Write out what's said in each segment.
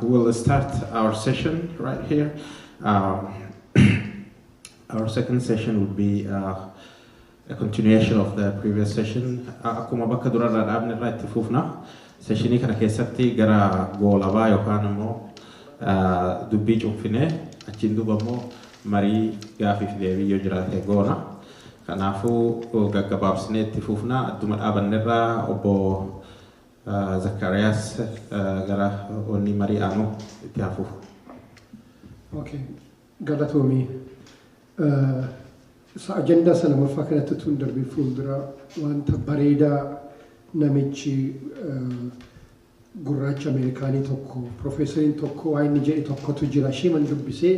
We'll start our session right here. Our second session will be a continuation of the previous session. Akkuma bakka durarraa dhaabne irraa itti fufna. Seshinii kana keessatti gara goolabaa yookaan immoo dubbii cuunfinee achiin duuba immoo marii gaafiif deebii yoo jiraate goona. Kanaafuu gaggabaabsinee itti fufna. Adduma dhaabanne irraa obbo Zakkaariyaas gara onnii marii aanu itti haa fufu. Okay. Galatoomii. Sa ajandaa isa lamaffaa kanatti utuu hin darbiin fuuldura wanta bareedaa namichi gurraacha Ameerikaanii tokko piroofeesariin tokko waa inni jedhe tokkotu jira isheeman dubbisee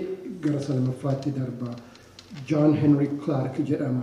gara isa lamaffaatti darba. John Henry Clark jedhama.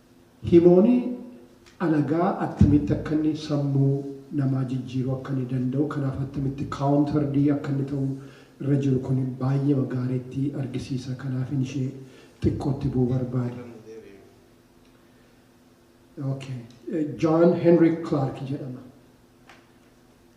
Himooni alagaa attamitti akka inni sammuu namaa jijjiiruu akka inni danda'u, kanaaf attamitti counter D akka inni ta'u irra jiru kun baay'eema gaariitti argisiisa. Kanaafin ishee xiqqoo itti bu'uu barbaade. Okay. John Henrik Clarke jedhama.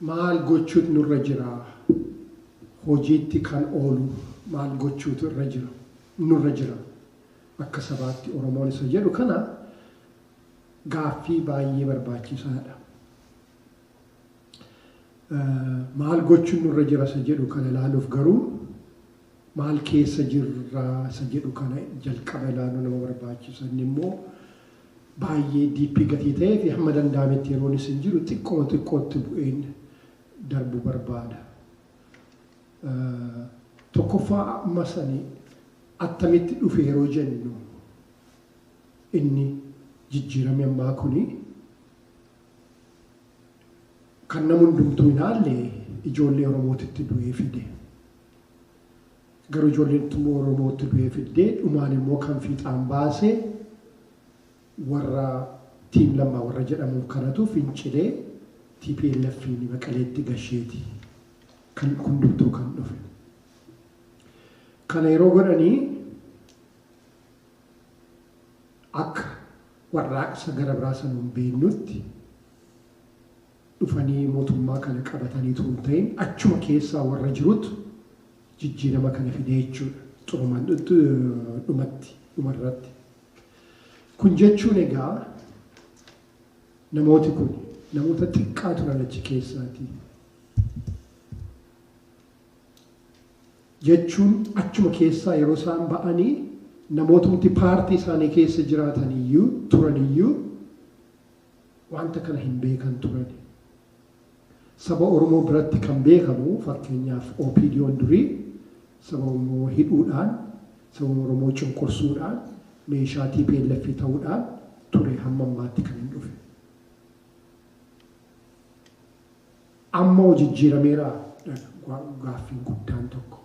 Maal gochuut nurra jira? Hojiitti kan oolu maal gochuutu irra jira, nurra jira akka sabaatti Oromoon isa jedhu kana gaaffii baay'ee barbaachisaa dha. Maal gochuun nurra jira isa jedhu kana ilaaluuf garuu, Maal keessa jirra isa jedhu kana jalqaba ilaaluu nama barbaachisa. Inni immoo baay'ee diippii gatii ta'ee fi hamma danda'ametti yeroon isin jiru xiqqoo xiqqootti bu'een darbu barbaada. Tokkoffaa amma sani attamitti dhufe yeroo jennu inni jijjiirame ammaa kuni Kan nam hundumtuu ilaalle ijoollee Oromootu itti du'ee fide. Garuu ijoolleen itti immoo Oromoo itti du'ee fiddee dhumaan immoo kan fiixaan baase warra Tiim Lammaa warra jedhamuun kanatu fincilee TPLFiin Maqaleetti gasheeti kan hundumtuu kan dhufe. Kana yeroo godhanii akka warraaqsa gara biraa san hin beeknutti dhufanii mootummaa kana qabatanii utuu hin ta'in achuma keessaa warra jirutu jijjiirama kana fide jechuudha. Xurumaan dhumatti dhumarratti. Kun jechuun egaa namooti kun namoota xiqqaa turan achi keessaati. jechuun achuma keessaa yeroo isaan ba'anii namootumti paartii isaanii keessa jiraatan iyyuu turan iyyuu wanta kana hin beekan turan. Saba Oromoo biratti kan beekamu fakkeenyaaf OPDOn durii saba Oromoo hidhuudhaan, saba Oromoo cunqursuudhaan, meeshaa tplf ta'uudhaan ture hamma ammaatti kan hin dhufe. Amma hoo jijjiirameeraa? dha gaaffiin guddaan tokko.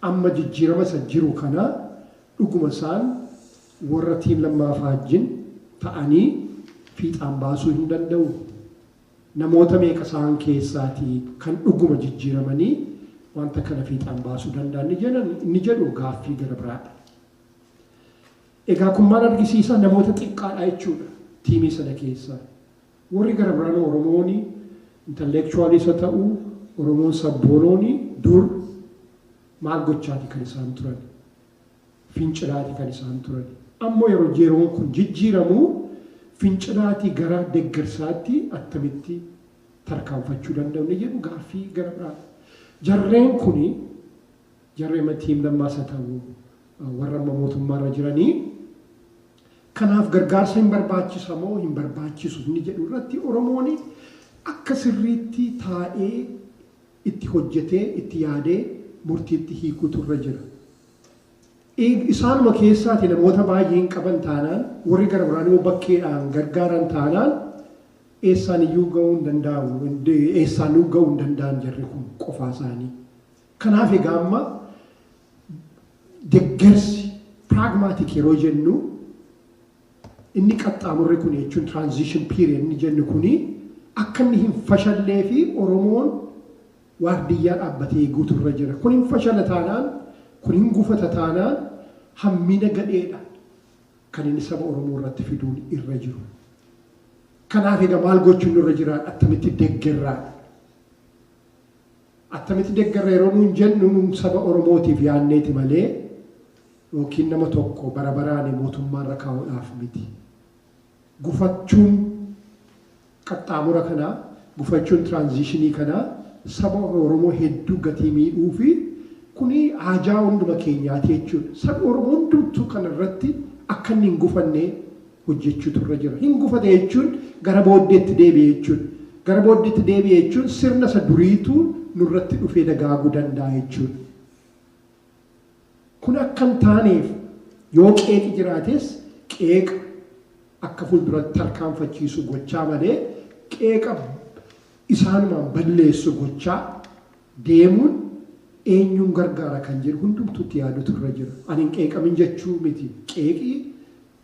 Amma jijjiirama isa jiru kana dhuguma isaan warra Team Lammaa Faajjin ta'anii fiixaan baasuu hin danda'uu? Namoota meeqa isaan keessaati kan dhuguma jijjiiramanii wanta kana fiixaan baasuu danda'an ni jedhan ni jedhu gaaffii gara biraadha. Egaa kun maal argisiisa? Namoota xiqqaadha jechuudha tiimii sana keessaa. Worri gara biraanuu Oromooni intellectualiis ha ta'u Oromoon sabboonooni dur maal gochaati kan isaan turani? Fincilaati kan isaan turani. Ammo yero yeroon kun jijjiiramu fincilaatii gara deggersaatti attamitti tarkaanfachuu danda'u inni jedhu gaaffii gara biraa. Jarreen kuni jarri amma Team Lammaas ha ta'u warra amma mootummaarra jiranii, Kanaaf gargaarsa hin barbaachisa moo hin barbaachisu inni jedhu irratti Oromoon akka sirriitti taa'ee itti hojjetee itti yaadee murtiitti hiikuutu irra jira. Isaanuma keessaati namoota baay'ee hin qaban taanaan warri gara biraan immoo bakkeedhaan gargaaran taanaan eessaan iyyuu ga'uu hin danda'amu eessaan ga'uu hin danda'an jarri kun qofaa isaanii. Kanaaf egaa amma deggersi pragmatic yeroo jennu inni qaxxaamurri kun jechuun transition period inni jennu kuni akka inni hin fashallee fi Oromoon waardiyyaa dhaabbatee eeguutu irra jira. Kun hin fashala taanaan, kun hin gufata taanaan hammina gadheedha kan inni saba Oromoo irratti fiduun irra jiru. Kanaaf egaa maal gochuun nurra jiraadha? Attamitti deggerraadha? Attamiti deggarra yeroo nuun jennu nuun saba oromootiif yaanneeti malee yookiin nama tokko bara baraani mootummaarra kaa'uudhaaf miti. Gufachuun qaxxaamura kanaa, gufachuun tiraanziishinii kanaa saba oromoo hedduu gatii miidhuufi kuni haajaa hunduma keenyaati jechuudha. Sabi oromoo hundumtuu kanarratti akkanni hin gufanne hojjechuutu irra jira. Hin gufate jechuun gara booddeetti deebi'e jechuudha. Gara booddeetti deebi'e jechuun sirna isa duriitu nurratti dhufee dagaaguu danda'a jechuudha. Kun akka hin taaneef yoo qeeqi jiraates qeeqa akka fuulduratti tarkaanfachiisu gochaa malee qeeqa isaanumaan balleessu gochaa deemuun eenyuun gargaara kan jedhu hundumtuutti yaadutu irra jira. Ani hin qeeqamin jechuu miti. Qeeqi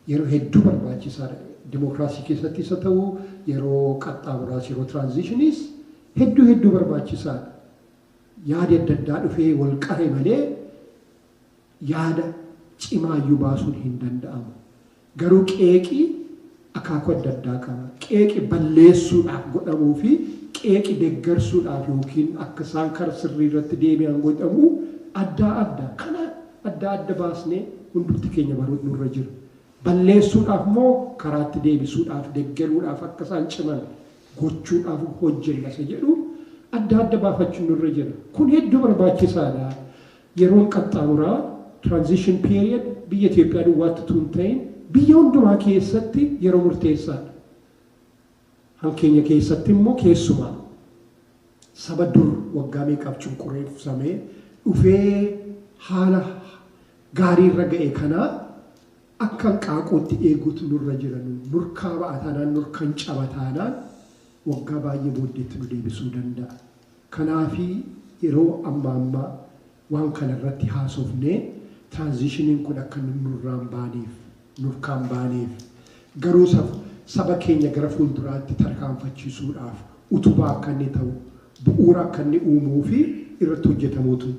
yeroo hedduu barbaachisaa dha. Dimookiraasii keessattis haa ta'u, yeroo qaxxaamuraas, yeroo tiraanziishiniis hedduu hedduu barbaachisaa dha. Yaadi adda addaa dhufee wal qare malee yaada cimaa iyyuu baasuun hin danda'amu. Garuu qeeqi akaakuu adda addaa qaba. Qeeqi balleessuudhaaf godhamuu fi qeeqi deggarsuudhaaf yookiin akka isaan kara sirrii irratti deebi'an godhamu addaa adda. Kana adda adda baasnee hundumti keenya baruut nurra jira. Balleessuudhaaf moo karaatti deebisuudhaaf, deggeruudhaaf, akka isaan ciman gochuudhaaf hojjenna isa jedhu adda adda baafachuun nurra jira. Kun hedduu barbaachisaadha. Yeroon qaxxaamuraa, transition period, biyya Itoophiyaa duwwaatti utuu hin ta'in biyya hundumaa keessatti yeroo murteessaadha. Afaan keenya keessatti immoo keessumaa saba dur waggaa meeqaaf cunqureeffamee dhufee haala gaarii irra ga'e kanaa akka hanqaaquutti eeguutu nurra jira. Nurkaa ba'a taanaan, nurkan caba taanaan waggaa baay'ee booddeetti nu deebisuu danda'a. Kanaafi yeroo ammaa ammaa Waan kana irratti haasofnee transition'n kun akka inni nurraan baaneef, nurkaan baaneef, garuu saf, saba keenya gara fuulduraatti tarkaanfachiisuudhaaf utubaa akka inni ta'u, bu'uura akka inni uumuu fi irratti hojjetamuutu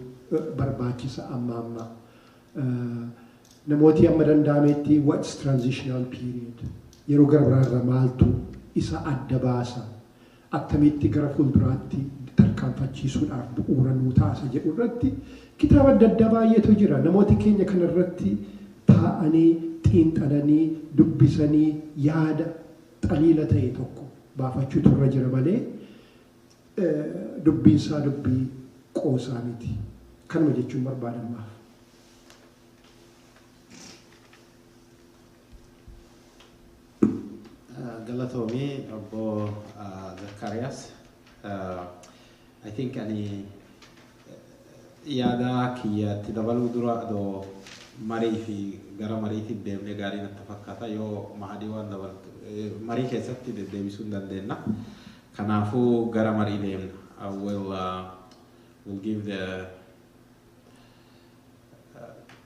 barbaachisa amma amma. Namooti amma danda'ameetti what's transitional period? Yeroo gara biraa irraa maaltu isa adda baasa? attamitti gara fuulduraatti tarkaanfachiisuudhaaf bu'uura nuu ta'a isa jedhu irratti kitaaba adda addaa baay'eetu jira. Namooti keenya kana irratti taa'anii xiinxalanii, dubbisanii yaada, xaliila ta'e tokko baafachuutu irra jira malee dubbiin isaa dubbii qoosaa miti. Kanuma jechuun barbaada ammaaf. Galatoomi obbo Zakkaariyaas. I think ani yaada kiyya itti dabaluu dura adoo marii fi gara mariitiif deemnee gaarii natti fakkaata. Yoo Mahadii waan dabaltu marii keessatti deddeebisuu hin dandeenna. Kanaafuu gara marii deemna. I will, uh, will give the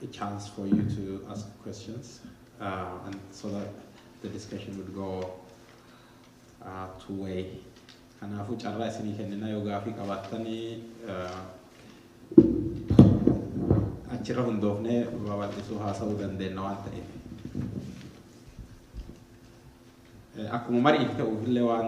a chance for you to ask questions uh, and so that the discussion would go uh, two way. Kanaafuu carraa isinii kenninaa yoo gaafii qabaattanii uh, achirra hundoofnee babal'isuu haasa'uu dandeenya waan ta'eef. Eh, Akkuma mariif ta'uuf illee waan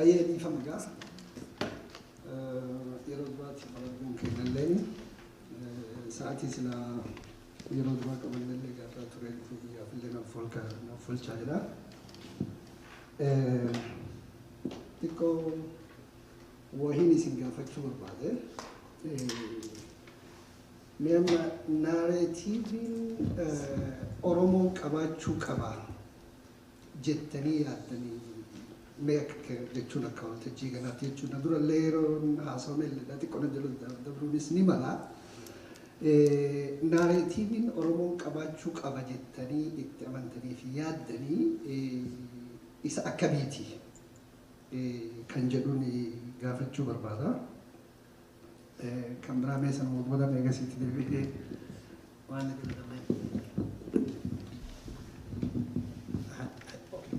Ayyee dhiifama egaa yeroo duraatti qabamuun keenyallee sa'aatii sila yeroo duraa qabannellee gaafaa ture dhufuu guyyaaf illee naaf folka naaf folchaa jira. Xiqqoo wahiin isin gaafachuu barbaade. Mee amma naareetiiviin Oromoon qabaachuu qaba jettanii yaaddanii mee akka kee- jechuun akka waltajjii ganaatti jechuun na dura illee yeroon haasofne illee na xiqqoo na jala dabruunis ni mala. Eh, Naareetiiviin Oromoon qabaachuu qaba jettanii itti amantanii fi yaaddanii eh, isa akkamiiti eh, kan jedhuun eh, gaafachuu barbaada. Kan biraa mee sanuma booda mee egasii itti deebi'ee waan itti dabalee.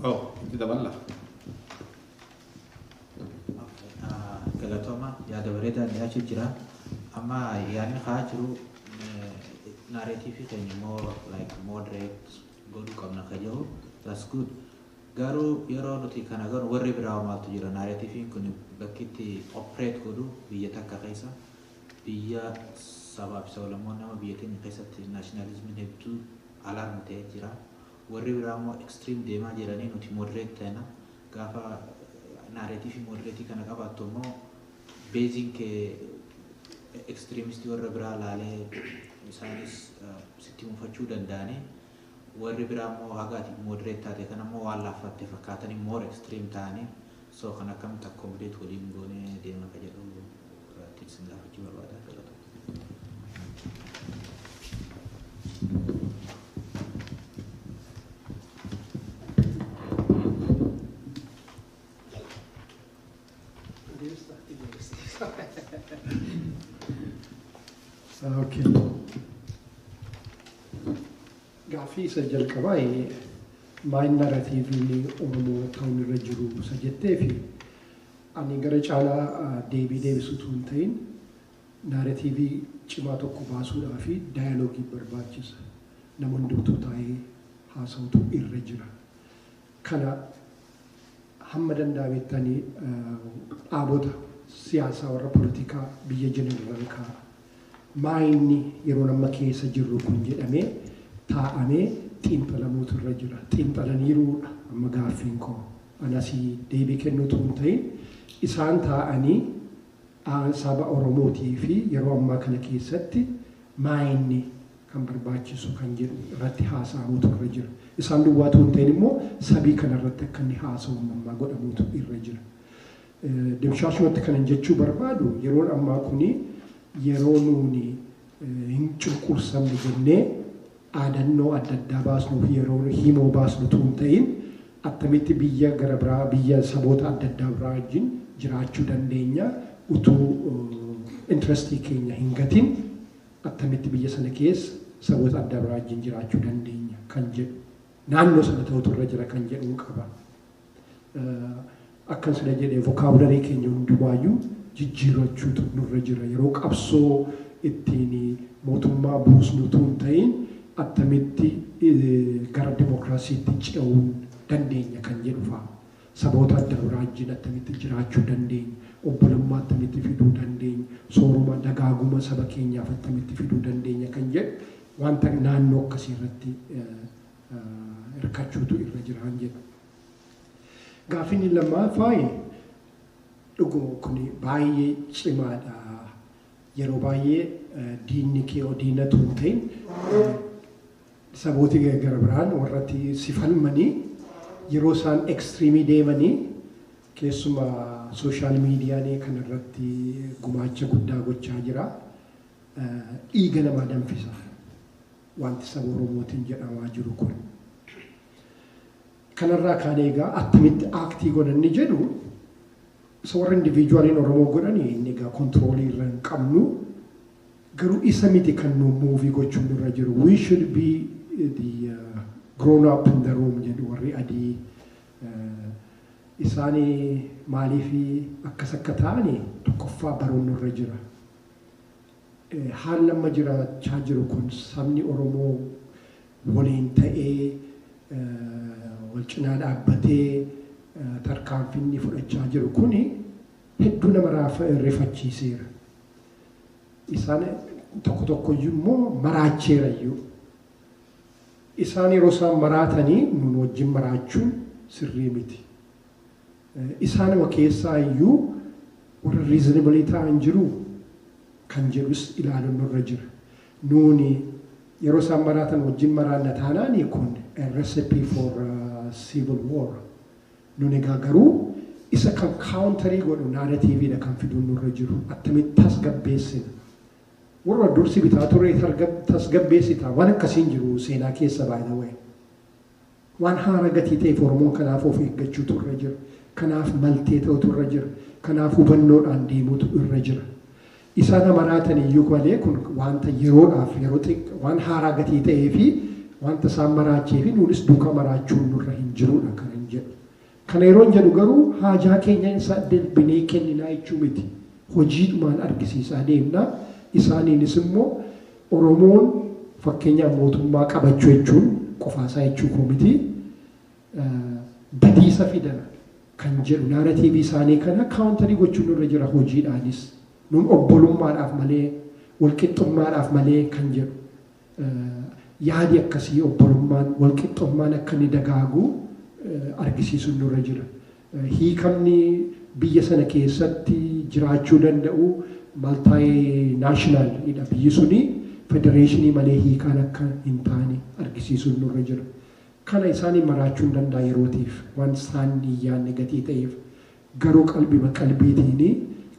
Oh, itti daballa. Galatooma yaada bareedaa dhiyaachuu jira. Amma yaadni haa jiru naareetiifii keenya immoo like moderate godhuu qabna ka jiru. That's good. Garuu yeroo nuti kana gonu warri biraa hoo maaltu jira narrative'n kun bakki itti operate godhu biyya takka keessa biyya sabaa fi sablammoonni amma biyya teenya keessatti nationalism'n hedduu alarm ta'ee jira warri biraa immoo extreme deemaa jiranii nuti moderate ta'na gaafa narrative moderate kana qabaattu immoo base'n kee extremist warra biraa laalee isaanis sitti mufachuu danda'anii Warri biraa immoo haga ati moderate taate kana immoo waan laaffatte fakkaatanii more extreme ta'anii so kan akkamitti accommodate waliin goonee deema ka jedhu irratti isin gaafachuu barbaada galatoomaa. Okay. Gaaffii isa jalqabaa eh, maal naratiiviin Oromoo ta'uun irra jiru isa jettee fi ani gara caalaa ah, deebii deebisuu utuu hin ta'in naratiivii cimaa tokko baasuudhaa fi daayaloogii barbaachisa. Nama hundumtuu taa'ee haasa'utu irra jira. Kana hamma danda'amettani dhaabota siyaasaa warra politikaa biyya jiranirran kaa maayinni yeroon amma keessa jirru kun jedhamee taa'amee xiinxalamuutu irra jira. Xiinxalaniiruu dha amma gaaffiin koo. An asii deebii kennuu utuu hin ta'in isaan taa'anii a saba Oromootii fi yeroo ammaa kana keessatti maayinni kan barbaachisu kan jedhu irratti haasa'amuutu irra jira. Isaan duwwaa utuu hin ta'in immoo sabii kana irratti akka inni haasa'u ammammaa godhamuutu irra jira. Dimshaashumatti kanan jechuu barbaadu yeroon ammaa kuni yeroo nuuni hin cunqursamne jennee dhaadannoo adda addaa baasnuuf yeroo himoo baasnu utuu hin ta'in attamitti biyya gara biraa biyya saboota adda addaa biraa wajjin jiraachuu dandeenya utuu intirestii keenya hin gatin attamitti biyya sana keessa saboota addaa biraa wajjin jiraachuu dandeenya kan jedhu, naannoo sana ta'utu irra jira kan jedhuu qaba. Akkan sila jedhe vokaabularii keenya hundumaayyuu jijjiirrachuutu nurra jira. Yeroo qabsoo ittiin mootummaa buusnu utuu hin ta'iin attamitti gara dimokiraasiitti ce'uu dandeenya kan jedhu fa'a. Saboota adda irraa wajjin attamitti jiraachuu dandeenya? Obbolummaa attamitti fiduu dandeenya? Sooroma, dagaaguma saba keenyaaf attamitti fiduu dandeenya? kan jedhu wanta naannoo akkasii irratti hirkachuutu irra jiraan jedha. Gaaffiin inni lammaffaa dhuguma kun baay'ee cimaadha. Yeroo baay'ee diinni kee yoo diina utuu hin ta'in Sabooti gara biraan warratti si falmanii yeroo isaan extreme deemanii keessuma social media nee kan irratti gumaacha guddaa gochaa jira. Dhiiga namaa danfisa. Wanti saba Oromootiin jedhamaa jiru kun. Kanarraa kaanee egaa attamitti act goona inni jedhu isa warra individualiin Oromoo godhan inni egaa control irra hin qabnu. Garuu isa miti kan nu move gochuun nurra jiru. We should be the uh, grown up in the room jedhu warri adii. Uh, isaani maaliif akkas akka ta'ani tokkoffaa baruun nurra jira. Haalli amma jiraachaa jiru kun sabni Oromoo waliin ta'ee wal cinaa dhaabbatee tarkaanfii inni fudhachaa jiru kun hedduu nama rifachiiseera. Isaan tokko tokkoyyuu immoo maraacheerayyuu. Isaan yeroo isaan maraatanii nuun wajjin maraachuun sirrii miti. Isaanuma keessaa iyyuu warra reasonable ta'an jiruu? kan jedhus ilaaluun nurra jira. Nuuni yeroo isaan maraatan wajjin maraanna taanaani kun a recipe for civil war. Nun egaa garuu isa kan counterii godhu narrative dha kan fiduun nurra jiru. Attamitti tasgabbeessina? Warruma dur si bitaa ture tasgabbeessita? Waan akkasii hin jiru seenaa keessa by the way. Waan haara gatii ta'eef Oromoon kanaaf of eeggachuutu irra jira. Kanaaf maltee ta'utu irra jira. Kanaaf hubannoodhaan deemuutu irra jira. Isa na maraatan iyyuu malee kun waanta yeroodhaaf yeroo xiq waan haaraa gatii ta'ee fi waanta isaan maraacheefi nuunis duukaa maraachuun nurra hin jiruudha kanan jedhu. Kana yeroon jedhu garuu haajaa keenya hin saddarbinee kenninaa jechuu miti. Hojiidhumaan argisiisaa deemna. Isaaniinis immoo Oromoon fakkeenyaaf mootummaa qabachuu jechuun qofaasaa jechuu koo miti. Badiisa fida kan jedhu naaratiivii isaanii kana kaawuntarii gochuun nurra jira hojiidhaanis. Nun obbolummaadhaaf malee, walqixxummaadhaaf malee kan jedhu. Yaadi akkasii obbolummaan, walqixxommaan akka inni dagaagu argisiisuun nurra jira. Hiikamni biyya sana keessatti jiraachuu danda'u multinational dha. Biyyi suni federeeshinii malee hiikaan akka hin taane argisiisuun nurra jira. Kana isaaniin maraachuun danda'a yerootiif, waan isaan hin yaadne gatii ta'eef. Garuu qalbima qalbiitiini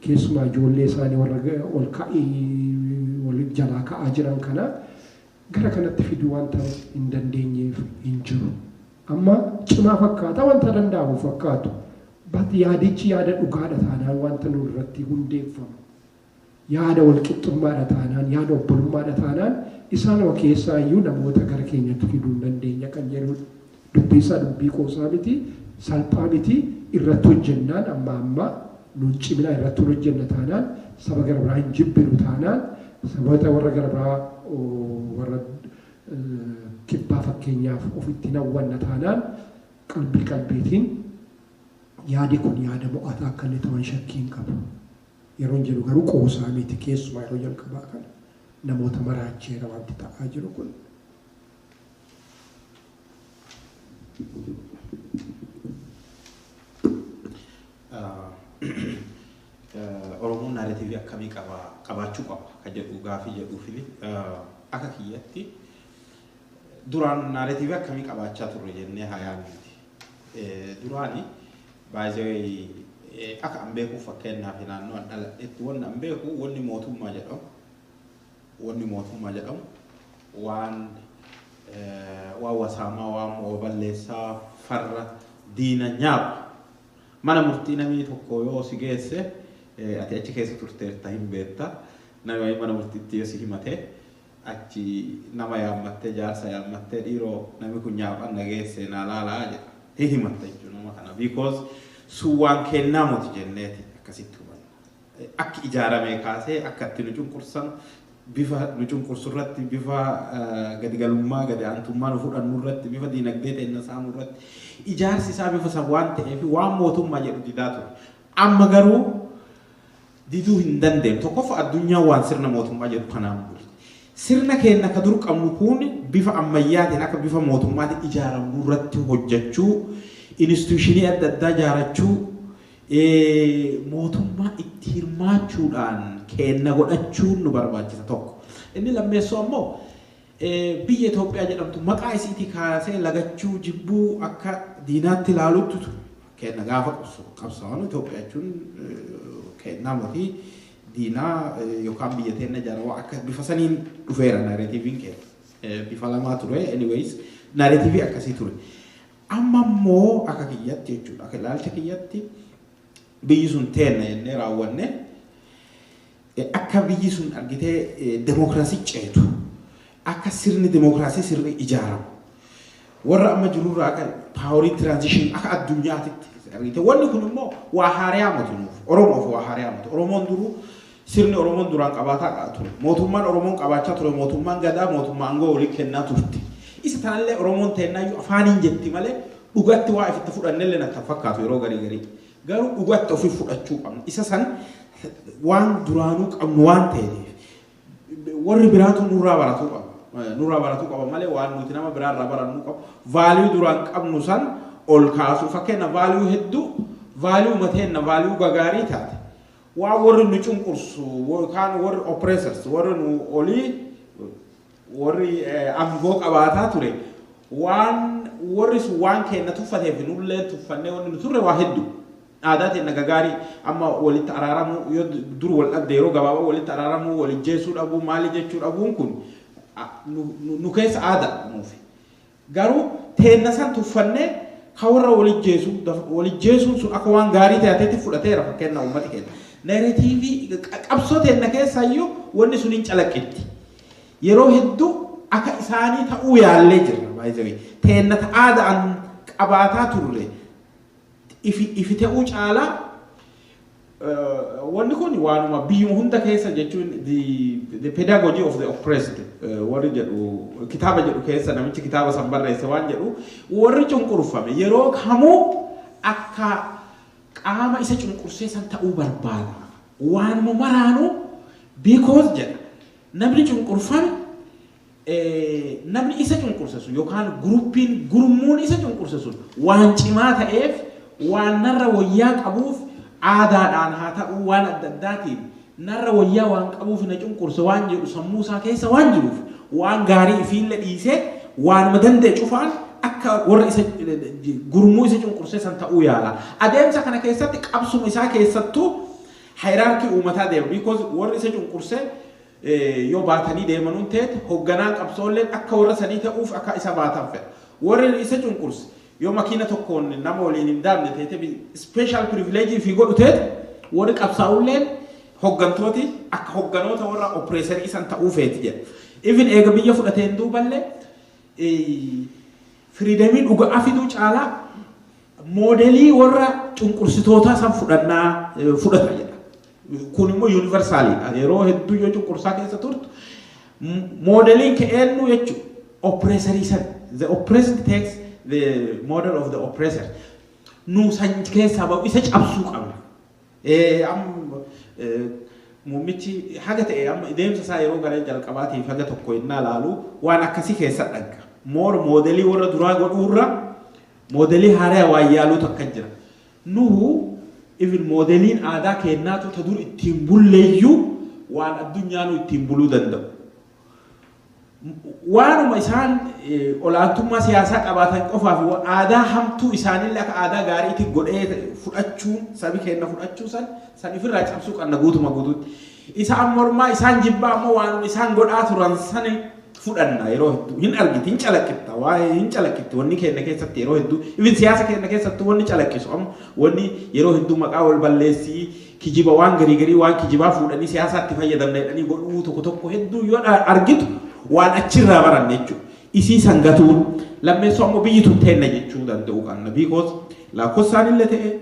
keessumaa ijoollee isaani warra ol ka'i wal jalaa ka'aa jiran kana gara kanatti fiduu wanta hin dandeenyeef hin jiru. Amma cimaa fakkaata wanta danda'amu fakkaatu but yaadichi yaada dhugaadha taanaan wanta nu irratti hundeeffamu Yaada walqixxummaadha taanaan, yaada obbolummaadha taanaan isaanuma keessaa iyyuu namoota gara keenyatti fiduu hin dandeenya kan jedhuudha. Dubbii isaa dubbii qoosaa miti, salphaa miti, irratti hojjennaan ammaa ammaa nuun ciminaa irratti hin hojjenna taanaan, saba gara biraa hin jibbinu taanaan, saboota warra gara biraa warra kibbaa fakkeenyaaf ofitti hin hawwanna taanaan qalbii qalbiitiin yaadi kun yaada mo'ataa akka illee ta'u an shakkii hin qabu. Yeroon jedhu garuu qoosaa miti keessumaa yeroo jalqabaa kana namoota maraacheera wanti ta'aa jiru kun. Oromoon narratiivii akkamii qaba qabaachuu qaba ka jedhu gaafii jedhuu fi akka kiyyatti duraan narratiivii akkamii qabaachaa turre jennee haa yaadnuti. Duraani by the way akka an beekuuf fakkeenyaaf naannoo an dhaladhetti wanni an beeku wanni mootummaa jedhamu wanni mootummaa jedhamu waan waan wasaamaa waan mo'oo balleessaa farra diina nyaapa mana murtii namii tokko yoo si geesse ati achi keessa turteerta hin beetta namii mana murtiitti yoo si himate Achi nama yaammattee jaarsa yaammattee dhiiroo nami kun nyaapha anna geesse naa laalaa jedha. Hin himatta jechuudha nama kana because sun waan keennaa moti jenneeti akkasitti hubanna. Akki ijaaramee kaasee akka itti nu cunqursan bifa nu cunqursu irratti bifa gadi galummaa gadi aantummaa nu fudhannu irratti bifa diinagdee teenna saamu irratti ijaarsi isaa bifa san waan ta'eefi waan mootummaa jedhu didaa ture. Amma garuu diduu hin dandeenu. Tokkoffaa addunyaan waan sirna mootummaa jedhu kanaan bulti. Sirna keenna ka dur qabnu kuun bifa ammayyaatiin akka bifa mootummaatiin ijaaramnu irratti hojjachuu, instituushinii adda addaa ijaarachuu, mootummaa itti hirmaachuudhaan keenna godhachuun nu barbaachisa tokko. Inni lammeessoo ammoo Biyya Itoophiyaa jedhamtu maqaa isiitii kaasee lagachuu, jibbuu, akka diinaatti ilaaluutu ture. Keenna gaafa qabsaawanu Itoophiyaa jechuun keennaa motii diinaa yookaan biyya teenna jaarawaa akka bifa saniin dhufeera naareetiiviin keenya. Bifa lamaa ture anyways naareetiivii akkasii ture. Amma immoo akka kiyyatti jechuudha akka ilaalcha kiyyatti biyyi sun teenna jennee raawwanne Akka biyyi sun argitee demokraasii ceetu, akka sirni demokraasii sirrii ijaaramu, warra amma jiru irraa akka paaworii tiraanzishinii akka addunyaatitti argite. Wanni kun immoo waa haariyaa moti nuuf. Oromoof waa haariyaa moti. Oromoon duruu sirni Oromoon duraan qabaataa ture. Mootummaan Oromoon qabaachaa ture mootummaan gadaa mootummaa aangoo walii kennaa turte. Isa tanallee Oromoon teennaayyuu afaaniin jetti malee dhugatti waa ifitti fudhannelleen akka fakkaatu yeroo garii garii. Garuu dhugatti ofi fudhachuu qabna. Isa san waan duraanuu qabnu waan ta'eef warri biraatu nurraa baratuu qaba. Nurraa baratuu qaba malee waan nuti nama biraarraa barannuu qabu. Vaaliyuu duraan qabnu san ol kaasuu. Fakkeenya vaaliyuu hedduu vaaliyuu mateenna vaaliyuu gagaarii taate. Waan warri nu cunqursu yookaan warri oppressors warri nu olii Worri angoo qabaataa ture waan worri sun waan keenna tuffateef nulleen tuffannee wanni nu turre waa heddu. Aadaa teenna gagaarii amma walitti araaramuu yoo dur wal dhabde yeroo gabaabaa walitti araaramuu wal ijjeessuu dhabuu maali jechuu dhabuun kun nu keessa aada nuufi. Garuu teenna san tuffannee ka warra wal ijjeesu dafa wal ijjeesuun sun akka waan gaarii tehatetti fudhateera fakkeenna ummati keenna. Narratiivii qabsoo teenna keessaayyuu wanni sun hin calaqqitti. Yeroo hedduu akka isaanii ta'uu yaallee jirra by the way. Teenna ta aada'an qabaataa turre ifi ifi te'uu caalaa. Wanni kun waanuma biyyuma hunda keessa jechuun the pedagogy of the oppressed warri jedhu kitaaba jedhu keessa namichi kitaaba san barreesse waan jedhu warri cunqurfame yeroo kamuu akka qaama isa cunqursee san ta'uu barbaada. Waanuma maraanuu because jedha namni cunqurfame namni isa cunqurse sun yookaan guruppiin gurmuun isa cunqurse sun waan cimaa ta'eef waan narra wayyaa qabuuf aadaadhaan haa ta'uu waan adda addaatiin narra wayyaa waan qabuuf na cunqurse waan jedhu sammuu isaa keessa waan jiruuf waan gaarii ifiille dhiisee waanuma danda'e cufaan akka warra isa gurmuu isa cunqursee san ta'uu yaala. Adeemsa kana keessatti qabsuma isaa keessattuu hierarchy uumataa deema because warri isa cunqursee yoo baatanii deemanuun teete hogganaan qabsoolleen akka warra sanii ta'uuf akka isa baatan fedha. Warri isa cunqurse yoo makiina tokkoon nama waliin hin daabne teete special privilege ifii godhu teete warri qabsaa'ulleen hoggantooti akka hogganoota warra oppressor isan ta'uu feeti jedha. Even eega biyya fudhateen duuballee freedomii dhuga'aa fiduu caalaa moodelii warra cunqursitootaa san fudhannaa fudhata jedha. Kun immoo yuunivarsaaliidha. Yeroo hedduu yoo cunqursaa keessa turtu moodeliin kee eenyu jechuudha. Oppireesarii sana. The oppressed takes the model of the oppressor. Nu san keessaa ba'u isa cabsuu qabna. Eh, am, eh, muummichi haga ta'e amma deemsa isaa yeroo gara jalqabaatiif haga tokko innaa laalu waan akkasii keessa dhagga. Moor moodelii warra duraa godhuurra moodelii haaraa waan yaaluutu akka jira. Nuhu even moodeliin aadaa keennaatu ta dur ittiin bulleeyyuu waan addunyaanuu ittiin buluu danda'u. Waanuma isaan olaantummaa siyaasaa qabaatan qofaaf aadaa hamtuu isaanillee akka aadaa gaariiti godhee fudhachuun sabi keenna fudhachuu san san ifirraa cabsuu qanna guutuma guutuutti. Isaan mormaa isaan jibbaa ammoo waanuma isaan godhaa turan sani fudhanna yeroo hedduu hin argiti hin calaqqitta waa'ee hin calaqqitti wanni keenna keessatti yeroo hedduu even siyaasa keenna keessattuu wanni calaqqisu amma wanni yeroo hedduu maqaa wal balleessii kijiba waan garii garii waan kijibaa fuudhanii siyaasaatti fayyadamna jedhanii godhuu tokko tokko hedduu yoo argitu waan achirraa baranne jechuudha. Isii san gatuun lammeessoo ammoo biyyi tun teenna jechuu danda'uu qabna. Biikoos lakkoofsaan illee ta'ee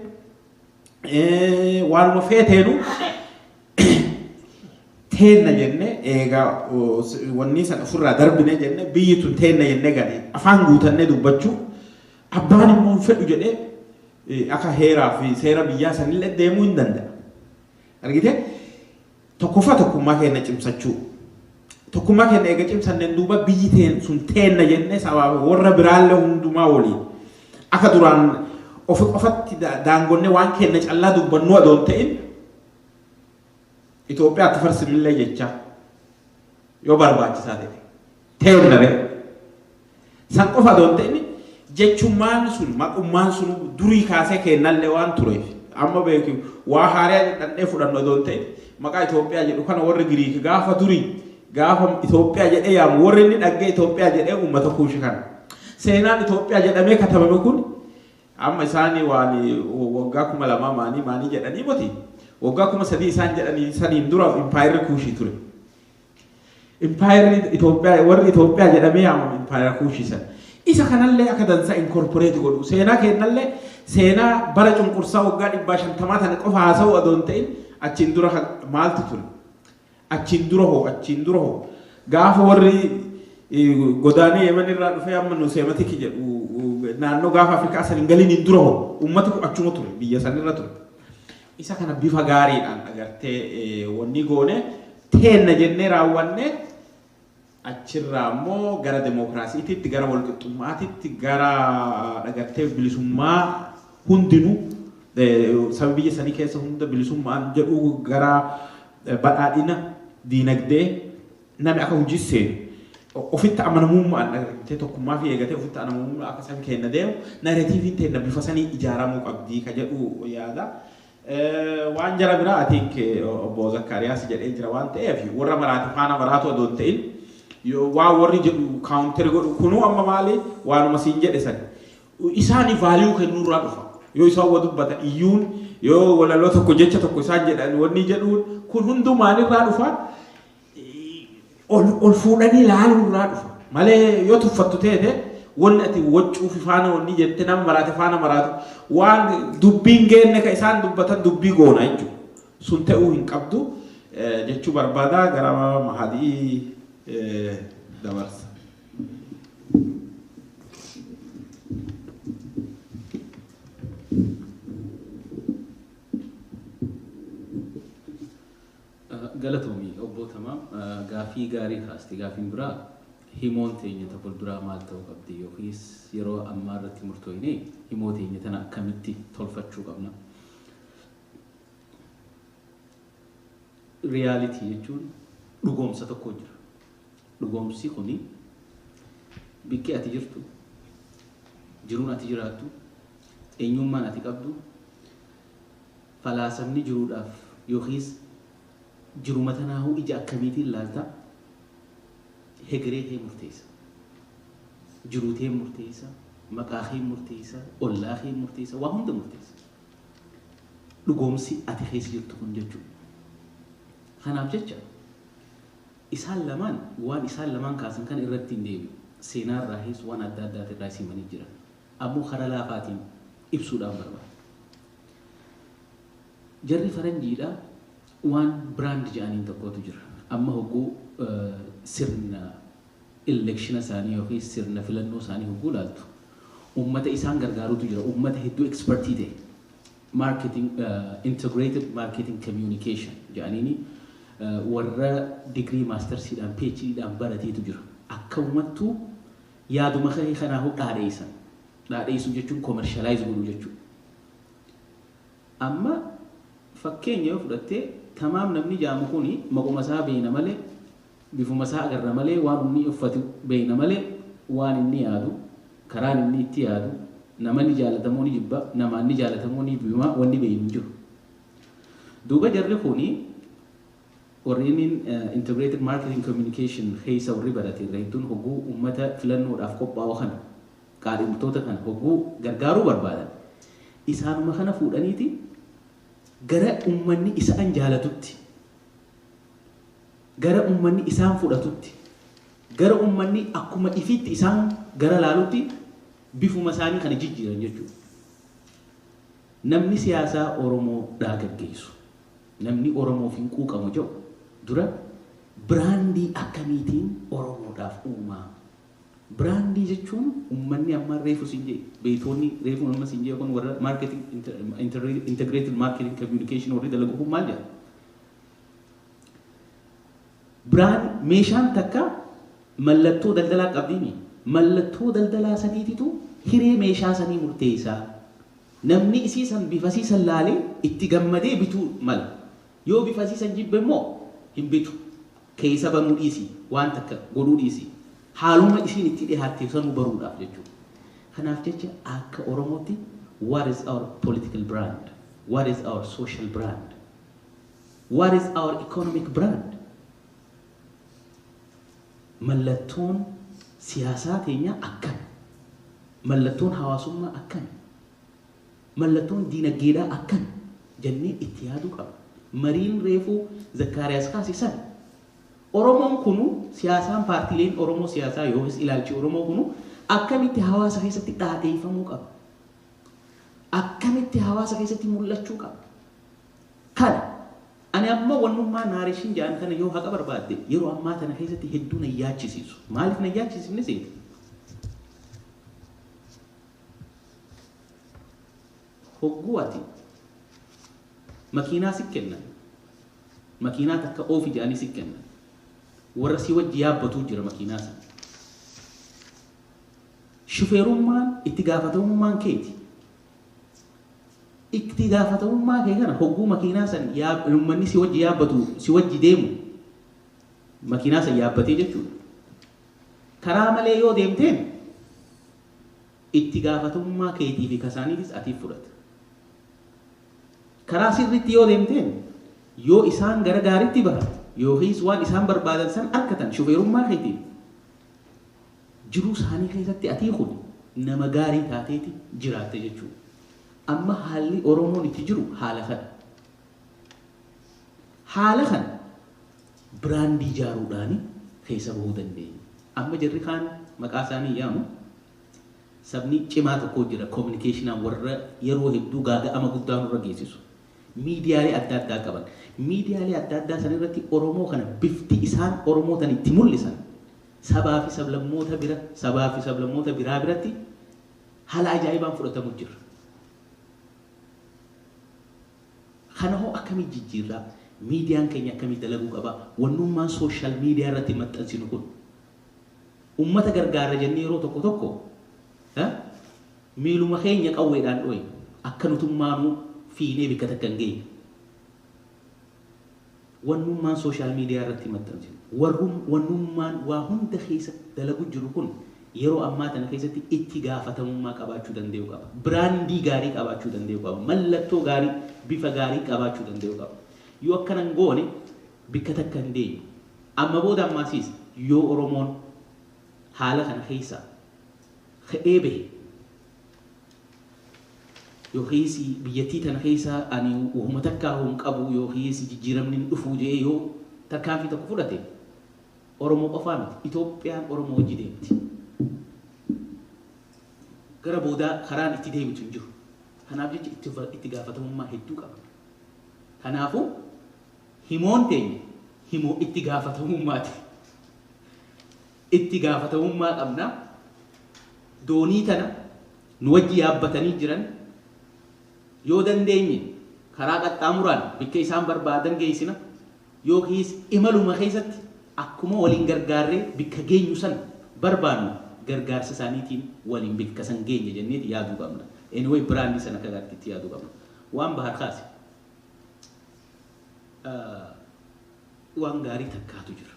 Eh, waanuma feeteenu teenna jenne eegaa oh, s- wanni san ofirraa darbine jenne biyyi tun teenna jenne gane afaan guutannee dubbachuu abbaan immoo hin fedhu jedhee eh, akka heeraa fi seera biyyaa sanillee deemuu hin danda'a. Argitee? Tokkoffaa tokkummaa keenna cimsachuu. Tokkummaa keenna eega cimsanneen duuba biyyi teen sun teenna jennee sabaa fi worra biraallee hundumaa woliin akka duraan ofi qofatti da- daangonnee waan keenna callaa dubbannuu adoo hin ta'in Itoophiyaatti farsinillee jechaa yoo barbaachisaa ta'e. Teerra bee. San qofa adoo hin ta'in jechummaan sun maqummaan sun durii kaasee keennallee waan tureef amma beeki waa haaraya dhadhandhee fudhannu adoo hin ta'in maqaa Itoophiyaa jedhu kana warri Giriik gaafa durii gaafa Itoophiyaa jedhee yaamu warri inni dhaggee Itoophiyaa jedhee uummata kuushi kana. Seenaan Itoophiyaa jedhamee katabame kun amma isaanii waan waggaa kuma lamaa maanii maanii jedhanii moti waggaa kuma sadii isaan jedhanii saniin dura impaayerri kuushii ture. Impaayerri Itoophiyaa warri Itoophiyaa jedhamee yaamame impaayera Kuushii sana. Isa kanallee akka dansaa inkorporeeti godhu. Seenaa keennallee seenaa bara cunqursaa waggaa dhibbaa shantamaa tana qofa haasa'uu adoo hin ta'in achiin dura kan maaltu ture? Achiin dura hoo achiin dura hoo gaafa warri eh, godaanee Yemen irraa dhufee amma nu seematiki jedhu naannoo gaafa Afrikaa san hin galiniin dura hoo uummati kun achuma ture biyya san irra ture. Isa kana bifa gaariidhaan agartee wannii goone teenna jennee raawwanne achirraa immoo gara demookiraasiititti, gara walqixxummaatitti, gara dhagartee bilisummaa hundinuu sabi biyya sanii keessa hunda bilisummaan jedhu gara badhaadhina diinagdee Nami akka hujii seenu ofitti amanamuummaan dhaga'ee tokkummaa fi eegatee ofitti anamuummaa akka san keenna deemu narratiiviin teenna bifa sanii ijaaramuu qabdii ka jedhu yaada. Waan jara biraa I think obbo Zakkaariyaas jedhee jira waan ta'eef warra maraati faana maraatu adoo hin ta'in waan warri jedhu kaawunteri godhu kunuu amma maali waanuma siin jedhe san isaani vaaliyuu kennuu irraa dhufa. Yoo isaan wa dubbatan iyyuun yoo walaloo tokko jecha tokko isaan jedhan wanni jedhuun kun hunduu maalirraa dhufa ol ol fuudhanii laaluu irraa dhufa malee yoo tuffattu teete wanni ati waccuu fi faana wanni jette nama maraate faana maraatu waan dubbiin geenne ka isaan dubbatan dubbii goona jechuudha. Sun ta'uu hin qabdu eh, jechuu barbaada gara mahadii eh, dabarsa. Galatoomi obboo Tamaam gaaffii gaarii kaaste. Gaaffiin biraa himoon teenya ta fulduraa maal ta'uu qabdi yookiis yeroo ammaa irratti murtooynee himoo teenya tana akkamitti tolfachuu qabna? Reality jechuun dhugoomsa tokkoo jira. Dhugoomsi kuni bikki ati jirtu, jiruun ati jiraattu, eenyuummaan ati qabdu, Falaasamni jiruudhaaf yookiis jiruma tanaahuu ija akkamiitiin laalta? Hegeree kee murteessa. Jiruu tee murteessa, maqaa kee murteessa, ollaa kee murteessa, waa hunda murteessa. Dhugoomsi ati keessa jirtu kun jechuudha. Kanaaf jecha isaan lamaan waan isaan lamaan kaasan kana irratti hin deebi'u. Seenaa irraahiis waan adda addaatirraahis himanii jiran. ammoo karaa laafaatiin ibsuudhaan barbaada. Jarri faranjiidha waan brand jedhaniin tokkootu jira. Amma hogguu sirna elekshina isaanii yookiin sirna filannoo isaanii hogguu ilaaltu ummata isaan gargaarutu jira. Ummata hedduu expertii ta'e marketing integrated marketing communication jedhaniini warra digrii maastarsiidhaan PhDdhaan barateetu jira. Akka ummattuu Yaaduma ka'e kanaahuu dhaadheessan. Dhaadheessuu jechuun commercialize godhuu jechuudha. Amma fakkeenya yoo fudhatte tamaam namni jaamu kuni maquma isaa beeyna malee bifuma isaa agarra malee waan inni uffatu beeyna malee waan inni yaadu karaan inni itti yaadu nama ni jaalata moo ni jibba namaan ni jaalata moo ni jibbimaa wanni beeynu hin jiru. Duuba jarri kuni Warri innin Integrated Marketing Communication keessa warri barate irra hedduun hogguu ummata filannoodhaaf qophaa'u kana, qaadhimtoota kana hogguu gargaaruu barbaadan isaanuma kana fuudhaniiti gara ummanni isaan jaalatutti, gara ummanni isaan fudhatutti, gara ummanni akkuma ifiitti isaan gara laalutti bifuma isaanii kana jijjiiran jechuudha. Namni siyaasaa Oromoo dhaa gaggeessu. Namni Oromoof hin quuqamu ja'u dura biraandii akkamiitiin Oromoodhaaf uumaa? Biraandii jechuun ummanni amma reefu siin ja'e, beeytoonni reefuun amma siin ja'e kun warra marketing integrated marketing communication warri dalagu kun maal jedha? Biraan meeshaan takka mallattoo daldalaa qabdiimii? Mallattoo daldalaa saniititu hiree meeshaa sanii murteeysaa. Namni isii san bifasii san laalee itti gammadee bituu mala. Yoo bifasii san jibbe immoo hin bitu. Keeysa banuu dhiisii, waan takka godhuu dhiisii. Haaluma isiin itti dhihaatte sanuu baruudhaaf jechuudha. Kanaaf jecha akka Oromootti what is our political brand? What is our social brand? What is our economic brand? Mallattoon siyaasaa teenyaa akkami? Mallattoon hawaasummaa akkami? Mallattoon diinaggeedhaa akkami? jennee itti yaaduu qabna. Mariin reefu Zakkaariyaas kaase san. Oromoon kunu siyaasaan paartiileen Oromoo siyaasaa yookiis ilaalchi Oromoo kunu akkamitti hawaasa keessatti dhaadheeffamuu qaba? Akkamitti hawaasa keessatti mul'achuu qaba? Kana Ani amma wannummaa narration jedhan kana yoo haqa barbaadde yeroo ammaa tana keessatti hedduu na hin yaachisiisu. Maaliif na hin yaachisiifne seete? Hogguu ati makiinaa si kennan, makiinaa takka oofi jedhanii si kennan. Warra si wajji yaabbatuu jira makiinaa sana. Shufeerummaan itti gaafatamummaan keeti. Itti gaafatamummaa kee kana hogguu makiinaa san ummanni si wajji yaabbatu si wajji deemu makiinaa san yaabbatee jechuudha. Karaa malee yoo deemteen itti gaafatamummaa keetii fi kasaaniitis atiif fudhata. Karaa sirriitti yoo deemteen yoo isaan gara gaariitti bahan yookiis waan isaan barbaadan san arkatan shufeerummaa keetiin Jiruu saanii keessatti atii kun nama gaarii taateeti jiraatte jechuu. Amma haalli Oromoon itti jiru haala kana. Haala kana biraandii ijaaruudhaani keessa bahuu dandeenya. Amma jarri kaan maqaa isaanii yaamu sabni cimaa tokkoo jira kominikeeshinaan warra yeroo hedduu gaaga'ama guddaa nurra geessisu. Miidiyaalee adda addaa qaban. Miidiyaalee adda addaa san irratti Oromoo kana bifti isaan Oromoo tana itti mul'isan sabaa fi sablammoota bira sabaa fi sablammoota biraa biratti hala ajaa'ibaan fudhatamu jirra. Kana hoo akkamii jijjiirraa? Miidiyaan keenya akkamii dalaguu qaba? Wannummaan social media irratti maxxansinu kun ummata gargaarra jennee yeroo tokko tokko miiluma keenya qawweedhaan dhooyna. Akka nutummaanuu fiinee bikka takka hin geenyu. Wannummaan social media irratti maxxansinu, warrum, wannummaan waa hunda keessa dalagu jiru kun yeroo ammaa tana keessatti itti gaafatamummaa qabaachuu dandayu qaba. Brandii gaarii qabaachuu dandayu qaba. Mallattoo gaarii, bifa gaarii qabaachuu dandayu qaba. Yoo akkana hin goone bikka takka hin geenyu. Amma booda ammaasiis yoo Oromoon haala kana keessaa ka'ee bahe yookiis biyyattii tana keessa ani wahuma takkaahu hin qabu yookiis jijjiiramni hin dhufu jedhee yoo tarkaanfii tokko fudhate Oromoo qofaa miti. Itoophiyaan Oromoo wajji deemti. Gara boodaa karaan itti deebitu hin jiru. Kanaaf jecha itti itti gaafatamummaa hedduu qaba. Kanaafuu himoon teenya himoo itti gaafatamummaati. Itti gaafatamummaa qabna. Doonii tana nu wajji yaabbatanii jiran yoo dandeenye karaa qaxxaamuraan bikka isaan barbaadan geessina, yookiis imaluma keessatti akkuma waliin gargaarree bikka geenyu san barbaannu gargaarsa isaaniitiin waliin bikka san geenya jenneeti yaaduu qabna. Anyway biraandii san akka gaariitti itti yaaduu qabna. Waan Bahar kaase waan gaarii takkaatu jira.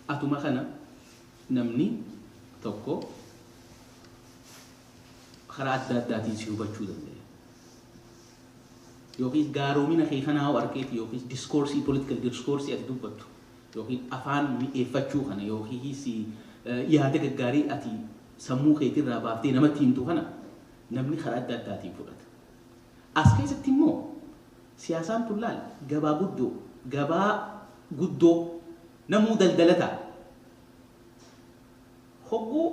Atuma kana namni tokko karaa adda addaatiin si hubachuu danda'a. Yookiis gaaromina kee kanaa hoo arkeeti yookiis diskoorsii, political diskoorsii ati dubbattu yookiin afaan mi'eeffachuu kana yookiis yaada gaggaarii ati sammuu keetirraa baaftee namatti himtu kana namni karaa adda addaatiin fudhata. As keessatti immoo siyaasaan tun laal gabaa guddoo, gabaa guddoo namuu daldala ta'a. Hogguu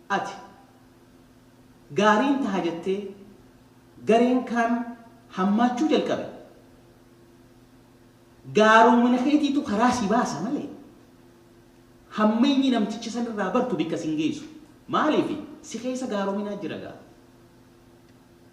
ati gaariin taha jettee gareen kaan hammaachuu jalqabe gaaroomina keetiitu karaa si baasa malee hammeenyi namticha san irraa bartu bikka sin geessu. Maaliif si keessa gaaroominaa jira gaa.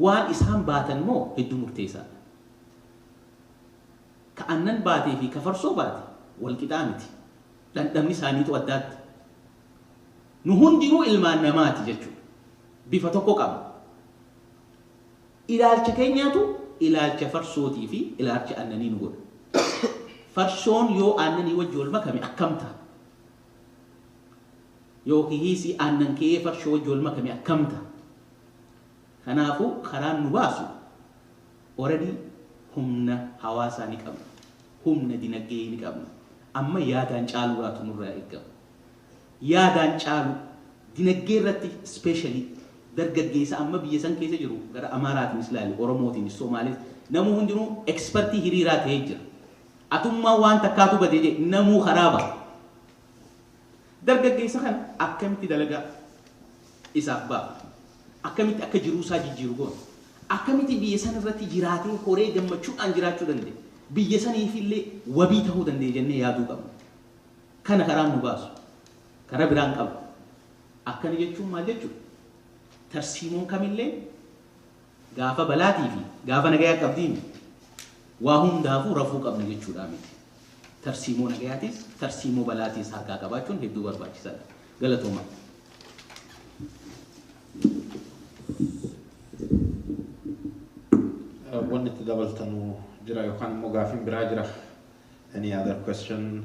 Waan isaan baatan moo hedduu murteessaadha. Ka annan baatee fi ka farsoo baate wal qixaa miti. Dhandhamni isaaniituu addaatti. Nu hundinuu ilmaan namaati jechuudha. Bifa tokko qabna. Ilaalcha keenyaatu ilaalcha farsootii fi ilaalcha annanii nu godha. Farsoon yoo aannanii wajji wal makame akkam ta'a? Yookihiisi aannan ke'ee farshoo wajji wal makame akkam ta'a? Kanaafuu karaan nu baasu already humna hawaasaa ni qabna, humna dinagdee ni qabna. Amma yaadaan caaluuraatu nurraa eegama. Yaadaan caalu dinagdee irratti specially dargaggeessa amma biyya san keessa jiru gara Amaaraatiinis ilaali, Oromootiinis, Somaalees namuu hundinuu expertii hiriiraa ta'ee jira. Atummaa waan takkaatu bade jee namuu karaa baha. Dargaggeessa kana akkamitti dalagaa isaaf baafna? Akkamitti akka jiruusaa jijjiiru goona? Akkamitti biyya san irratti jiraatee horee gammachuudhaan jiraachuu danda'e? Biyya saniif illee wabii ta'uu danda'e jennee yaaduu qabna. Kana karaan nu baasu karaa biraa hin qabu. Akkana jechuun maal jechuudha? Tarsiimoon kamilleen Gaafa balaatii fi gaafa nagayaa qabdii miti. Waa hundaafuu rafuu qabna jechuudhaa miti. Tarsiimoo nagayaatiis, tarsiimoo balaatiis harkaa qabaachuun hedduu barbaachisaa dha. Galatoomaa. Wanni itti dabaltanu jira yookaan immoo gaafiin biraa jira? Any other question?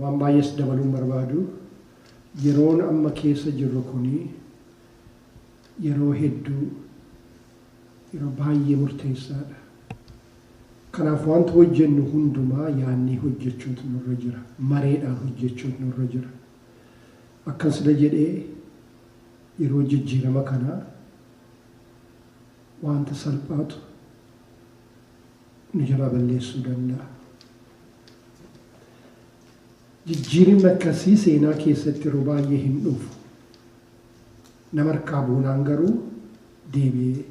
Waan baay'ees dabaluu hin barbaadu. Yeroon amma keessa jirru kun yeroo hedduu yeroo baay'ee murteessaadha. Kanaaf wanta hojjennu hundumaa yaadnee hojjechuutu nurra jira. Mareedhaan hojjechuutu nurra jira. Akkan sila jedhe yeroo jijjiirama kanaa wanta salphaatu nu jalaa balleessuu danda'a. Jijjiirinni akkasii seenaa keessatti yeroo baay'ee hin dhufu. Nama harkaa buunaan garuu deebi'ee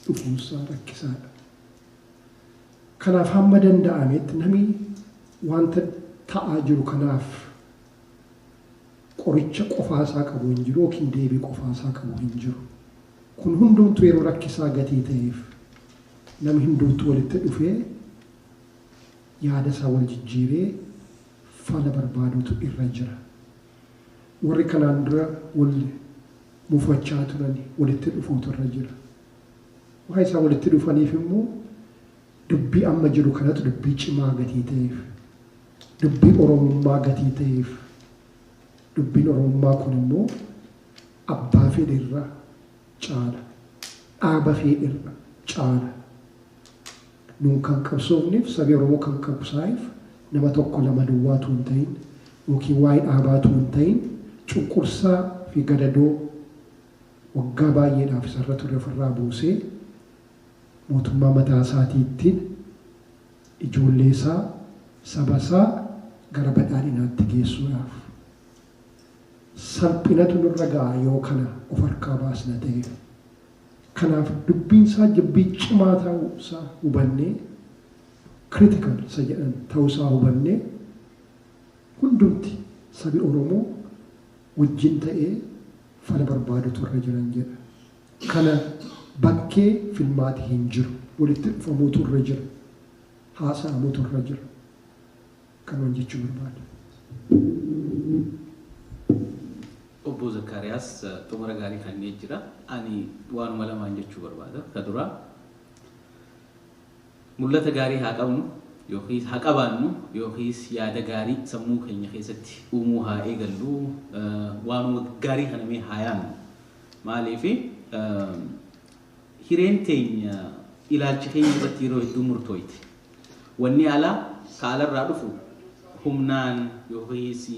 dhufuunsaa rakkisaadha. Kanaaf hamma danda'ametti namni wanta ta'aa jiru kanaaf qoricha qofaasaa qabu hin jiru yookiin deebii qofaasaa qabu hin jiru. Kun hundumtuu yeroo rakkisaa gatii ta'eef namni hundumtuu walitti dhufee yaada isaa wal jijjiiree fala barbaaduutu irra jira. Warri kanaan dura wal mufachaa turani walitti dhufuutu irra jira. Waan isaan walitti dhufaniif immoo dubbii amma jiru kanatu dubbii cimaa gatii ta'eef, dubbii Oromummaa gatii ta'eef, dubbiin Oromummaa kun immoo Abbaa fedhe irra caala. Dhaaba feedhe irra caala. Nuun kan qabsoofneef sabi Oromoo kan qabsaa'eef nama tokko lama duwwaa utuu hin ta'iin yookiin waa'ee dhaabaa utuu hin ta'iin cunqursaa fi gadadoo waggaa baay'eedhaaf isa irra ture of irraa buusee mootummaa mataa isaatii ittiin ijoollee isaa saba isaa gara badhaadhinaatti geessuudhaaf. salphinatu nurra ga'a yoo kana of harkaa baasna ta'e. Kanaaf dubbiinsaa jibbii cimaa ta'uusaa hubannee, critical isa jedhan ta'uusaa hubannee hundumti sabi Oromoo wajjin ta'ee fala barbaadutu irra jiran jedha. Kana bakkee filmaati hin jiru. Walitti dhufamuutu irra jira. Haasa'amutu irra jira. qaban jechuu barbaada. Obbo Zakkaariyaas, Xumura gaarii kennee jira. Ani waanuma lamaan jechuu barbaada. Ka duraa, mul'ata gaarii haa qabnu yookiis haa qabaannu yookiis yaada gaarii sammuu keenya keessatti uumuu haa eegallu. Waanuma gaarii kana mee haa yaannu. Maaliif Hireen teenya ilaalcha keenya irratti yeroo hedduu murtooyti. Wanni alaa, ka alarraa dhufu, humnaan yookiis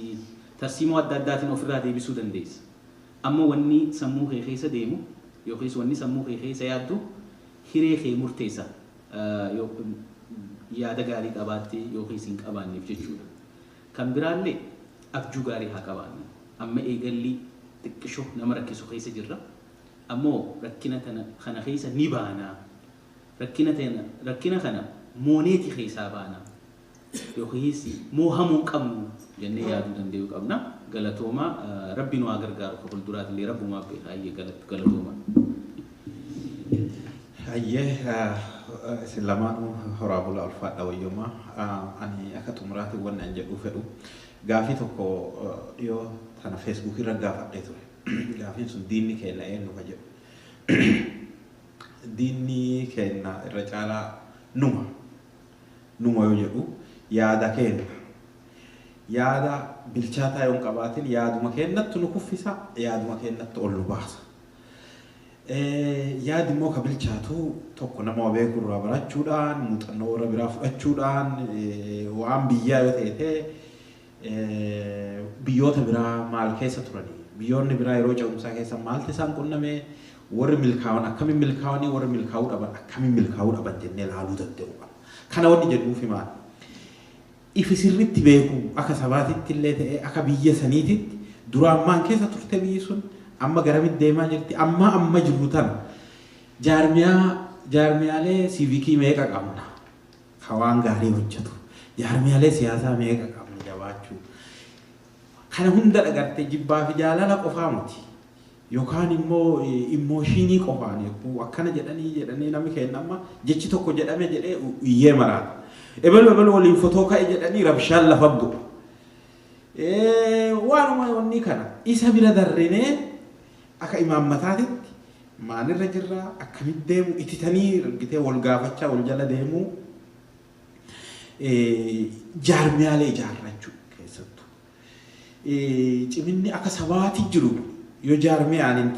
tarsiimoo adda addaatiin of irraa deebisuu dandeessa. Amma wanni sammuu kee keessa deemu yookiis wanni sammuu kee keessa yaaddu hiree kee murteessa yoo yaada gaarii qabaatte yookiis hin qabaanneef jechuu dha. Kan biraallee abjuu gaarii haa qabaannu. Amma eegallii xiqqisho nama rakkisu keessa jirra. Ammoo rakkina tana kana keessa ni baana. Rakkina tana rakkina kana mooneeti keessaa baana. Yookiis moohamuu hin qabnu jennee yaaduu dandayuu qabna. Galatoomaa Rabbi nu haa gargaaru ka fulduraatillee Rabbumaaf beeka hayyee galatoomaa. Hayyee isin lamaanuu horaa bulaa ulfaadha wayyoomaa. Ani akka xumuraatiin wanni an jedhuu fedhu gaafii tokko dhiyoo tana Facebook irra gaafadhee ture. Gaafiin sun diinni keenna eennu ka jedhu. Diinni keenna irra caalaa numa. Numa yoo jedhu yaada keenna. Yaada bilchaataa yoo hin qabaatin yaaduma keennattu nu kuffisa, yaaduma keennattu ol nu baasa. Yaadi immoo ka bilchaatu tokko nama beeku irraa barachuudhaan, muuxannoo warra biraa fudhachuudhaan, waan biyyaa yoo teete, Biyyoota biraa maal keessa turani? Biyyoonni biraa yeroo ce'umsaa keessa maaltu isaan qunname? Warri milkaawan akkamiin milkaawanii? Warri milkaa'uu dhaban akkamiin milkaa'uu dhaban jennee ilaaluu danda'uu qabna. Kana wanni jedhuufi maali? Ifi sirriitti beekuu akka sabaatitti illee ta'ee akka biyya saniititti duraan maal keessa turte biyyi sun amma garamitti deemaa jirti? Amma amma jirru tana jaarmiyaa jaarmiyaalee siivikii meeqa qabna? ka waan gaarii hojjatu. Jaarmiyaalee siyaasaa meeqa qabna jabaachuu. Kana hunda dhagarte jibbaa fi jaalala qofaa miti. Yookaan immoo immooshiinii qofaan yogguu akkana jedhanii jedhanii namni keenya amma jechi tokko jedhame jedhee iyyee maraata. Ebelu ebelu waliin fotoo ka'e jedhanii rabshaan lafa bu'u. Waanuma wanni kana isa bira darrinee Akka imaammataatitti maalirra jirra, akkamitti deemu, ititanii argitee wal gaafachaa wal jala deemuu, jaarmiyaalee ijaarrachuu keessattu. Ciminni akka sabaati jiru yoo jaarmiyaan hin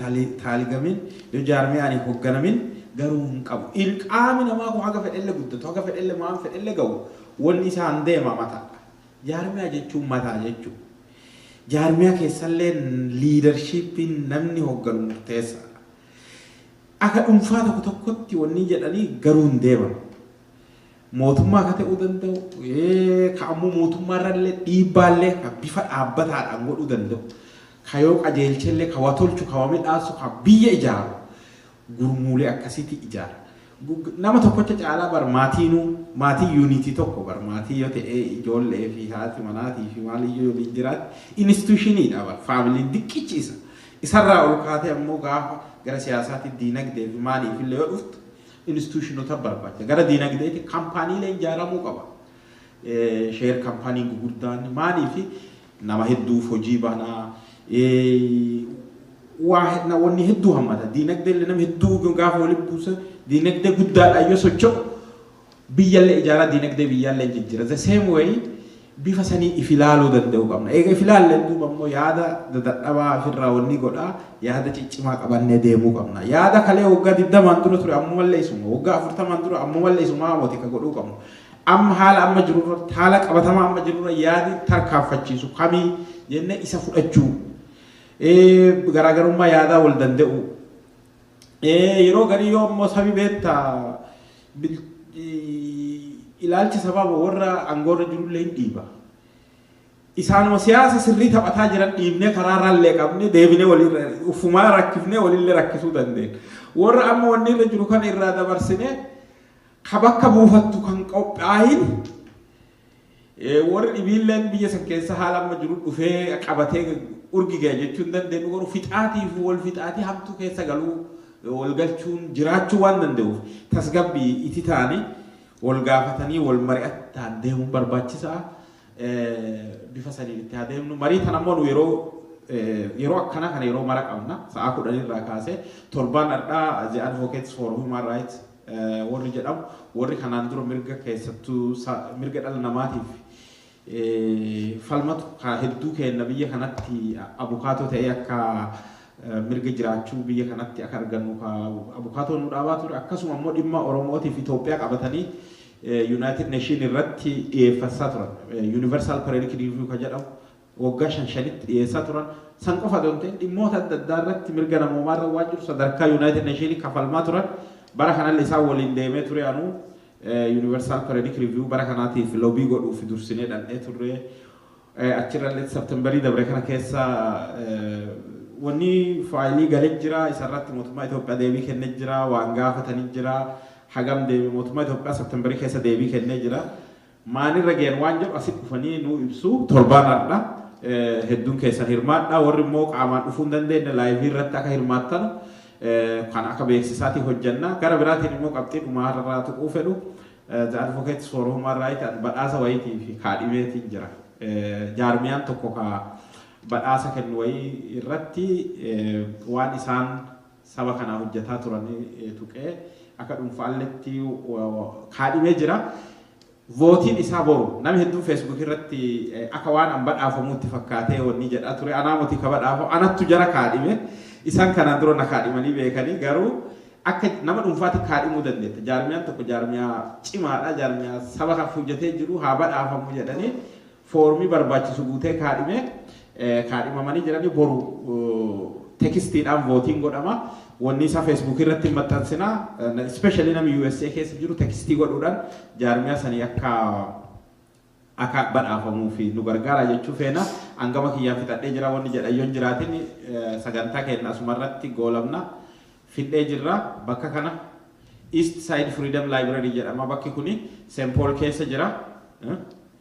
taaligamin, yoo jaarmiyaan hin hogganamin garuu hin qabu. Ilqaami namaa kun haga fedhelle guddatu, haga fedhelle maan fedhelle ga'u wanni isaan deema mataadha. Jaarmiyaa jechuun mataa jechuudha. Jaarmiyaa keessallee liidarshiippiin namni hogganu murteessaadha. Aka dhunfaa tokko tokkotti wannii jedhanii garuu hin deeman. Mootummaa ka ta'uu danda'u, ka ammoo mootummaa irrallee dhiibbaallee ka bifa dhaabbataadhaan godhuu danda'u, ka yoo qajeelchellee ka wa tolchu, ka wa midhaassu, ka biyya ijaaru gurmuulee akkasiitii ijaara. Gug, nama tokkocha caalaa bar maatiinuu, maatii yuuniitii tokko bar maatii yoo ta'e ijoollee fi haati manaatii fi maaliyyuu yoo waliin jiraate inistuushiniidha bar faamiliin diqqichi isa. Isarraa ol kaatee ammoo gaafa gara siyaasaatii diinagdee fi maaliif illee yoo dhuftu inistuushinota barbaacha. Gara diinagdeetii kampaaniileen ijaaramuu qaba. Eh, sheer kampaaniin gugurdaan maaliif nama hedduuf hojii bana, waa wanni hedduu hammata. Diinagdee illee nama hedduu gaafa walitti buuse diinagdee guddaadhaan yoo socho'u biyyallee ijaaraa diinagdee biyyaallee jijjiira. The same way bifa sanii if ilaaluu danda'uu qabna. Eega if ilaalleen duuba immoo yaada dadadhabaa ofirraa wanni godhaa yaada ciccimaa qabannee deemuu qabna. Yaada kalee waggaa 20 dura ture ammumallee isuma, waggaa 40 dura ammumallee isumaa wati ka godhuu qabnu. Amma haala amma jiru irratti, haala qabatamaa amma jiru irra yaadi tarkaanfachiisu kamii jennee isa fudhachuu, garaagarummaa yaadaa wal danda'uu. Yeroo garii yoo immoo sabi beetta ilaalchi sabaa warra angoorra jirullee hin dhiiba. Isaanuma siyaasa sirrii taphataa jiran dhiibnee karaarraa illee qabne deebinee waliirra ufumaa rakkifnee walillee rakkisuu dandeenya. Warra amma wanni irra jiru kana irraa dabarsinee ka bakka buufattu kan qophaayin warri dhibiilleen biyya san keessa haala amma jiru dhufee qabatee urgi ga'e jechuu hin dandeenyu garuu fixaatiif wal fixaatii hamtuu keessa galuu wal galchuun jiraachuu waan danda'uuf tasgabbii itti ta'anii wal gaafatanii wal mari'ataan deemuun barbaachisaa bifa saniin itti haa deemnu marii tan ammoo nu yeroo yeroo akkanaa kana yeroo mara qabna sa'aa kudhan irraa kaasee torbaan har'aa the advocates for human rights warri jedhamu warri kanaan dura mirga keessattuu mirga dhala namaatiif falmatu ka hedduu keenna biyya kanatti abukaatoo ta'ee akka mirga jiraachuu biyya kanatti akka argannu ka abukaatoo nu dhaabaa ture akkasuma immoo dhimma Oromootiif Itoophiyaa qabatanii Yuunaayitid Neeshiin irratti dhiyeeffasaa turan. Yuunivarsaal Pareerik Riiviyuu ka jedhamu waggaa shan shanitti dhiyeessaa turan san qofa osoo hin ta'in dhimmoota adda addaa irratti mirga namoomaa irra waan jiru sadarkaa Yunaayitid Neeshiinii kafalmaa turan bara kanalle isaan waliin deemee ture anuu Universal Periodic Review bara kanaatiif lobii godhuuf dursinee dhannee turre achirrallee Septemberii dabre kana keessa wanni faayilii galee jira isarratti mootummaa Itoophiyaa deebii kennee jira waan gaafatanii jira hagam deebii mootummaa Itoophiyaa Septemberii keessa deebii kennee jira maalirra gayan waan jedhu asitti dhufanii nuu ibsu. Torbaan hardha hedduun keessan hirmaadha. Warri immoo qaamaan dhufuu hin dandeenye laayivii irratti akka hirmaattanu kan akka beeksisaatii hojjanna. Gara biraatiin immoo qabxii dhumaa irraa tuquu fedhu The Advocates for Human Rights and badhaasa wayiitii fi kaadhimeetiin jira. Jaarmiyaan tokko ka badhaasa kennu wayii irratti waan isaan saba kanaa hojjataa turan tuqee akka dhunfaalletti kaadhimee jira. Vootiin isaa boru nami hedduun Facebook irratti akka waan an badhaafamuutti fakkaatee wanni jedhaa ture anaa moti ka badhaafamu anattu jara kaadhime isan kanaan dura na kaadhimanii beekanii garuu akka nama dhunfaatti kaadhimuu dandeetta jaarmiyaan tokko jaarmiyaa cimaadha jaarmiyaa saba kan hojjatee jiru haa badhaafamu jedhanii foormii barbaachisu guutee kaadhimee kaadhimamanii jiranii boru tekistiidhaan vootiin godhama. Wanni isaa feesbuukii irratti hin maxxansina. Ispeeshaalii namni USA keessa jiru tekistii godhuudhaan jaarmiyaa sanii akka akka badhaafamuu fi nu gargaara jechuu feena. Hangama kiyyaan fixadhee jira wanni jedhan yoon jiraatin sagantaa keenya asuma irratti goolabna fixee jirra bakka kana East Side Freedom Library jedhama bakki kuni St. Paul keessa jira.